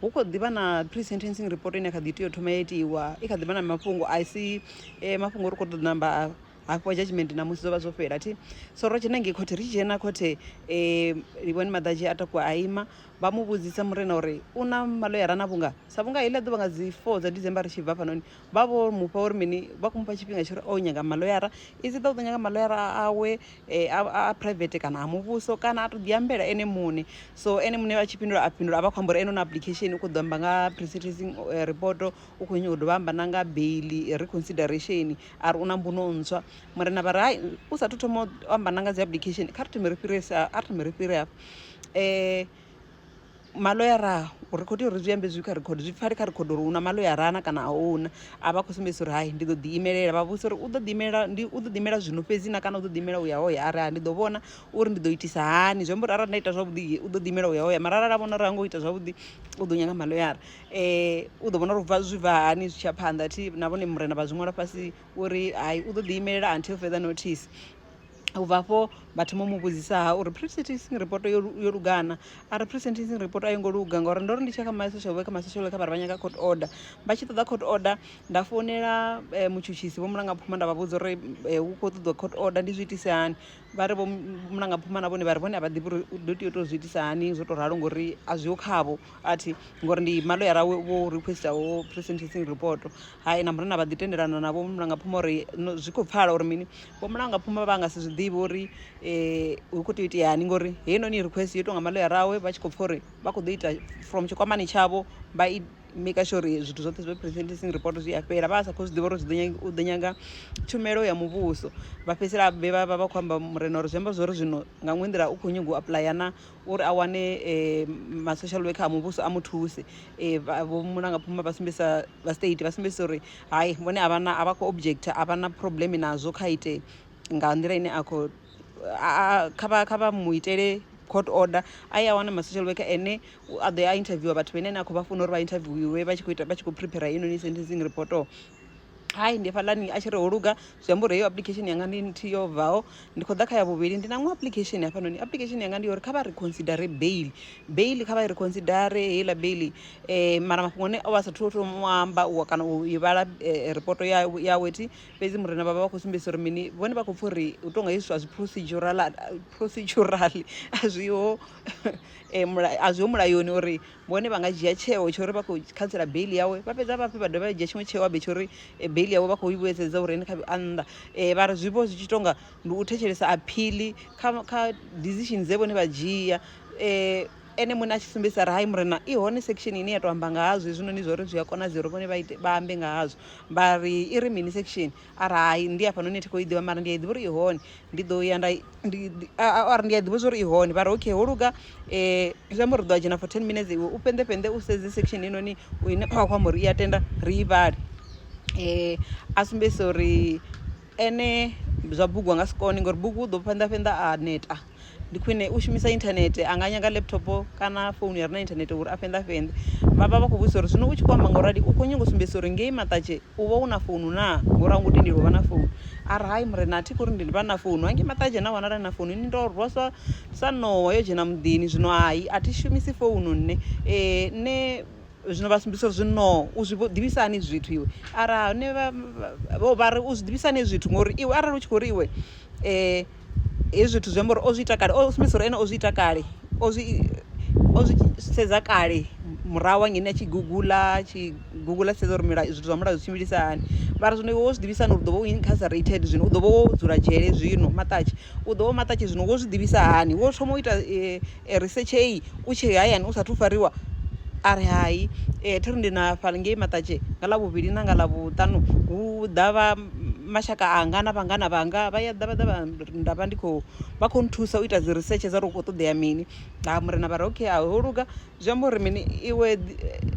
Hu khou ḓi vha na pre-sentencing report ine ya kha ḓi tea u thoma ya itiwa, i kha ḓi vha na mafhungo a si mafhungo ri khou tou namba hafhiwa judgement ṋamusi zwo vha zwo fhela thi. So ro dzhena ngei khothe, ri tshi dzhena khothe Livhuwani Maḓadzhi a takuwa a ima, vha mu vhudzisa Murena uri u na maḽoyara na vhunga sa vhunga heiḽa ḓuvha nga dzi four dza December ri tshi bva hafhanoni, vha vho mufha uri mini vha khou mufha tshifhinga tsho uri o nyaga maloyara is ḓa u ḓo nyaga maloyara awe eh, a private kana a muvhuso kana a to ḓi ambela ene muṋe so ene muṋe vha tshi fhindula a fhindula a vha khou amba uri ene na application u khou ḓo amba nga presentencing eh, report u khou nyanga u dovha amba na nga baili reconsideration a ri u na mbuno ntswa murena vha ri hai u sathu thoma u amba na nga dzi application kha ri thome ri fhirese a ri thome ri fhire hafha um maloyara ri khou tea uri zwi ambe zwi kha record zwi pfale kha record uri hu na maloyara na kana a huna a vha khou sumbedzisa uri hai ndi ḓo ḓi imelela vha vhudzisa uri u ḓo ḓi imelela ndi u ḓo ḓi imela zwino fhedzi na kana u ḓo ḓi imela u ya ho ya arali ndi ḓo vhona uri ndi ḓo itisa hani zwi amba uri arali nda ita zwavhuḓi u ḓo ḓi imela u ya ho ya mara arali a vhona uri ha ngo ita zwavhuḓi u ḓo nyanga maloyara um u ḓo vhona uri bva zwi bva hani zwi tshiya phanḓa thi na vhone murena vha zwi ṅwala fhasi uri hai u ḓo ḓi imelela until further notice. U bva afho vha thoma u mu vhudzisa ha uri presentencing report yo yo lugana a ri presentencing report a yo ngo luga ngauri ndo ri ndi tshi kha my social worker my social worker vha ri vha nyaga court order vha tshi ṱoḓa court order nda founela eh, mutshutshisi vho mulanga phuma nda vha vhudza uri eh, hu khou ṱoḓiwa court order ndi zwi itise hani vha ri vho mulanga phuma na vhone vha ri vhone a vha ḓivhi uri u ḓo tea u tou zwi itisa hani zwo tou ralo ngori a zwiho khavho athi ngori ndi maloyara wo- wo requesta wo presentencing report hai na murena vha ḓi tendelana navho mulanga phuma uri no- zwi khou pfala uri mini vho mulangapfuma vha nga si zwi ḓivhe uri um hu khou tea u iteani ngori heinoni request yo tou nga maloyara awe vha tshi khou pfha uri vha khou ḓo ita from tshikwamani tshavho vha i maker sure uri zwithu zwoṱhe zwa presenting report zwi a fhela vha sa khou zwi ḓivha uri zwi ḓo nyaga u ḓo nyaga tshumelo ya muvhuso vha fhedzisela vhe vha vha vha khou amba murena uri zwi amba zwori zwino nga ṅwe nḓila u khou nyanga u apuḽaya na uri a wane ma social worker a muvhuso a mu thuse vho mulanga phuma vha sumbedzisa vha state vha sumbedzisa uri hai vhone a vhana a vha khou object a vha na problem nazwo kha ite nga nḓila ine a khou kha vha kha vha mu itele court order a ya wana ma social worker ene a ḓo ya a interviewer vhathu vhene a khou vha funa uri vha interviewer vha tshi khou ita vha tshi khou prepare heinoni sentencing report hai ndi hafhaḽani a tshi ri ho luga zwi amba uri heyo application yanga ndi nthihi yo bvaho ndi khou ḓa kha ya vhuvhili ndi na ṅwe application hafhanoni application yanga ndi yo uri kha vha ri considere bail bail kha vha i ri considere heiḽa bail um mara mafhungo ane o vha a sathu to mu amba u kana u i vhala ripoto ya yawe thi fhedzi murena vhavha vha khou sumbedzisa uri mini vhone vha khou pfha uri u tonga hezwi zwithu a zwi procedural procedural a zwiho a zwiho mulayoni uri vhone vha nga dzhia tsheo tsho uri vha khou khantsela baiḽi yawe vha fhedza vhafhi vha dovha vha dzhia tshiṅwe tsheo abe tsho uri eh, baiḽi yawe vha khou i vhuedzedza uri ene kha a nnḓa um vha ri zwi vho zwi tshi tonga ndi u thetshelesa aphili kha kha decision dze vhone vha dzhia um ene muṋe a tshi sumbedzisa ri hai murena i hone section ine ya to amba nga hazwo hezwinoni zwa uri zwi a konadzea uri vhone vha ambe nga hazwo vha ri i ri mini section ari hai ndi hafhanoni thi khou i ḓivha mara ndi a i ḓivha uri i hone ndi ḓo ya nda or ndi a ḓivha zwa uri i hone vha ri okay ho luga um zwi amba uri ri ḓo a dzhena for ten minutes iwe u fhenḓe fhenḓe u sedze section heinoni ine wa khou amba uri i a tenda ri i vhale um a sumbedzisa uri ene zwa bugu a nga si kone ngauri bugu u ḓo fhenḓa fhenḓa a neta ndi khwine u shumisa inthanethe a nga nyaga laptop kana founu ya re na inthanethe uri a fhenḓa fhenḓe vha vha vha khou vhudzisa uri zwino u tshi khou amba nga u rali u khou nyanga u sumbedzisa uri ngei maṱatshe u vha u na founu naa ngori a u ngo tendeli u vha na founu a ri hai murena a thi khou ri ndi vha na founu hangei maṱatshe na wanala na founu ni ndo rwa sa sa ṋowa yo dzhena muḓini zwino hai a thi shumisi founu nṋe um nṋe Zwino vha sumbisa uri, Zwino u zwi ḓivhisa hani zwithu iwe? Ara hone vha, vha, vha ri, U zwi ḓivhisa hani zwithu? Ngori iwe arali u tshi khou ri iwe, hezwi zwithu zwi amba uri o zwi ita kale, o sumbisa uri ene o zwi ita kale, o zwi, o zwi sedza kale murahu hangeni a tshi guguḽa, a tshi guguḽa a tshi sedza uri milayo, zwithu zwa mulayo zwi tshimbilisa hani. Vha ri, Zwino iwe wo zwi ḓivhisa hani uri u ḓo vha u incarcerated zwino, u ḓo vha wo dzula dzhele zwino, maṱatshe, u ḓo vha u maṱatshe zwino, wo zwi ḓivhisa hani? Wo thoma u ita E ri setshei u tshee hayani u sathu fariwa? A ri hai. E thi ri ndi na fha ngei maṱatshe nga ḽavhuvhili na nga ḽavhuṱanu hu ḓa vha mashaka anga na vhangana vhanga vha ya ḓa vha ḓa vha nda vha ndi kho vha kho nthusa u ita dzi risetshe dza uri hu kho ṱoḓea mini ha murena vha ri okay a ho luga zwi amba uri mini iwe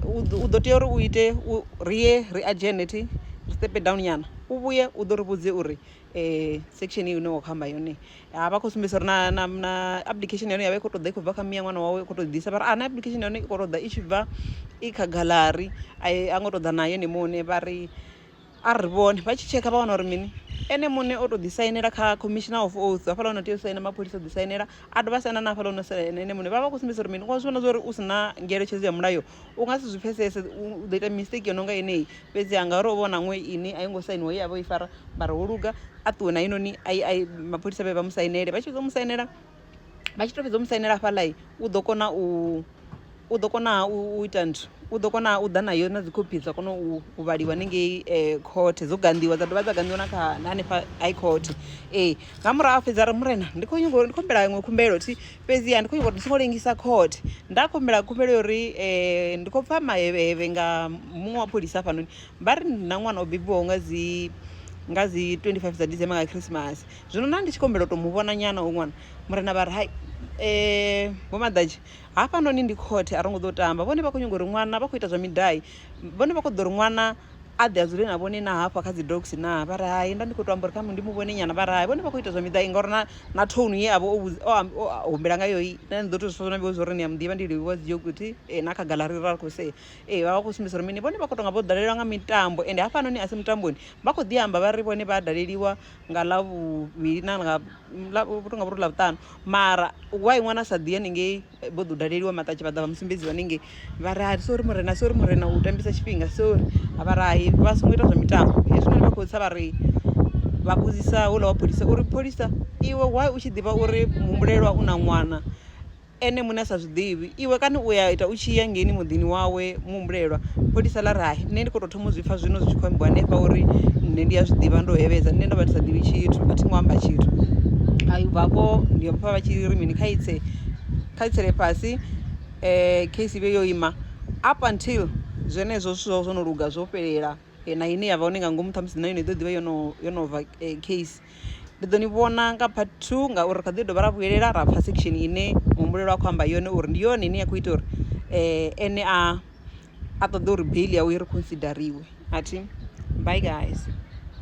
u ḓo tea uri u ite u ri ye ri adzhene thi ri step down nyana u vhuye u ḓo ri vhudze uri section ine wa khou amba yone ha vha khou sumbedzisa uri na na na application ya hone ya vha i khou ṱoḓa i khou bva kha miya ṅwana wawe i khou tou ḓisa vha ri a na application ya hone i khou ṱoḓa i tshi bva i kha gallery a i a ngo ṱoḓa na yone muṋe vha ri a ri vhone vha tshi tshekha vha wana uri mini ene muṋe o tou ḓi sainela kha commissioner of oath hafhaḽa ono tea u saina mapholisa o ḓi sainela a dovha a saina na hafhaḽa ono saina ene muṋe vha vha khou sumbedzisa uri mini wa zwi vhona zwa uri u si na ngeletshedzo ya mulayo u nga si zwi pfhesese u ḓo ita mistake yo no nga yeneyi fhedzi ha ngauri o vha o na ṅwe ine a i ngo sainiwa ye a vha o i fara mara wo luga a ṱuwe na heinoni a mapholisa vhe vha mu sainele vha tshi fhedza u mu sainela vha tshi to fhedza u mu sainela hafhaḽa u ḓo kona u u ḓo kona u ita nthu u ḓo kona u ḓa nayo na dzikhophi dza kona u vhaliwa hanengei eh, khothe dzo ganḓiwa dza dovha dza ganḓiwa na kha hanefha high court ee nga murahu a fhedza ri murena ndi khou nyanga ndi khumbela iṅwe khumbelo thi fhedziha ndi khou nyanga uri ndi songo lengisa court nda khumbela khumbelo ya uri um ndi khou pfha mahevhehevhe nga muṅwe wa pholisa hafhanoni vha ri na ṅwana o bebiwaho nga dzi nga dzi 25 dza december nga khrisimasi zwino na ndi tshi khombela u to mu vhona nyana o ṅwana murena vha ri hai um vho maḓadzhi hafhanoni ndi khothe a ro ngo ḓo tamba vhone vha khou nyanga uri ṅwana vha khou ita zwa midai Vhone vha kho ḓo ri ṅwana a ḓe a dzule na vhone na hafha kha dzi dogs na vha ri hai nda ndi kho to amba uri kha ndi mu vhone nyana vha ri hai vhone vha kho ita zwa miḓai ngauri na na tone ye avha o humbela nga yoyi na ni ḓo to zwi funa vho zwori ni a muḓivha ndi livhuwa dzi yoguthi e na kha gaḽari ra kho se e vha vha khou sumbedza uri mini vhone vha kho to nga vho dalelwa nga mitambo ende hafha noni a si mutamboni vha kho ḓi amba vha ri vhone vha daleliwa nga ḽa vhuvhili na nga ḽa vhu tonga vhuri ḽa vhuṱanu mara why ṅwana sa ḓi haningei vho ḓo daleliwa maṱatshi vha ḓa vha musumbedzi vha nenge vha ri hai sori murena sori murena u tambisa tshifhinga sori a vha ri hai vha songo ita zwa mitambo hezwinoni vha khou tsa vha ri vha vhudzisa houḽa wa pholisa uri pholisa iwe why u tshi ḓivha uri muhumbulelwa u na ṅwana ene muṋe a sa zwiḓivhi iwe kana u ya ita u tshi ya ngeni muḓini wawe muhumbulelwa pholisa ḽa ri hai nṋe ndi kho to thoma u zwi pfha zwino zwi tshi khou ambiwa hanefha uri nṋe ndi a zwiḓivha ndo hevhedza nṋe ndo vha ndi sa ḓivhi tshithu a thi ngo amba tshithu a vhavho ndi vhapfa vha tshi ri mini kha itse kha i tsele fhasi um case ivhe yo ima up until zwenezwo zwithu zwavho zwo no luga zwo fhelela eh, na ine yavha hone nga ngomu ṱhamusi na yone i ḓo ḓivha yo no yo no bva eh, case ndi ḓo ni vhona nga part two ngauri kha ḓi dovha ra vhuyelela ra pfa section ine muhumbulelo a khou amba yone uri ndi yone ine ya khou ita uri um ene a a ṱoḓa uri bail yawe i ri consideriwe athi bye guys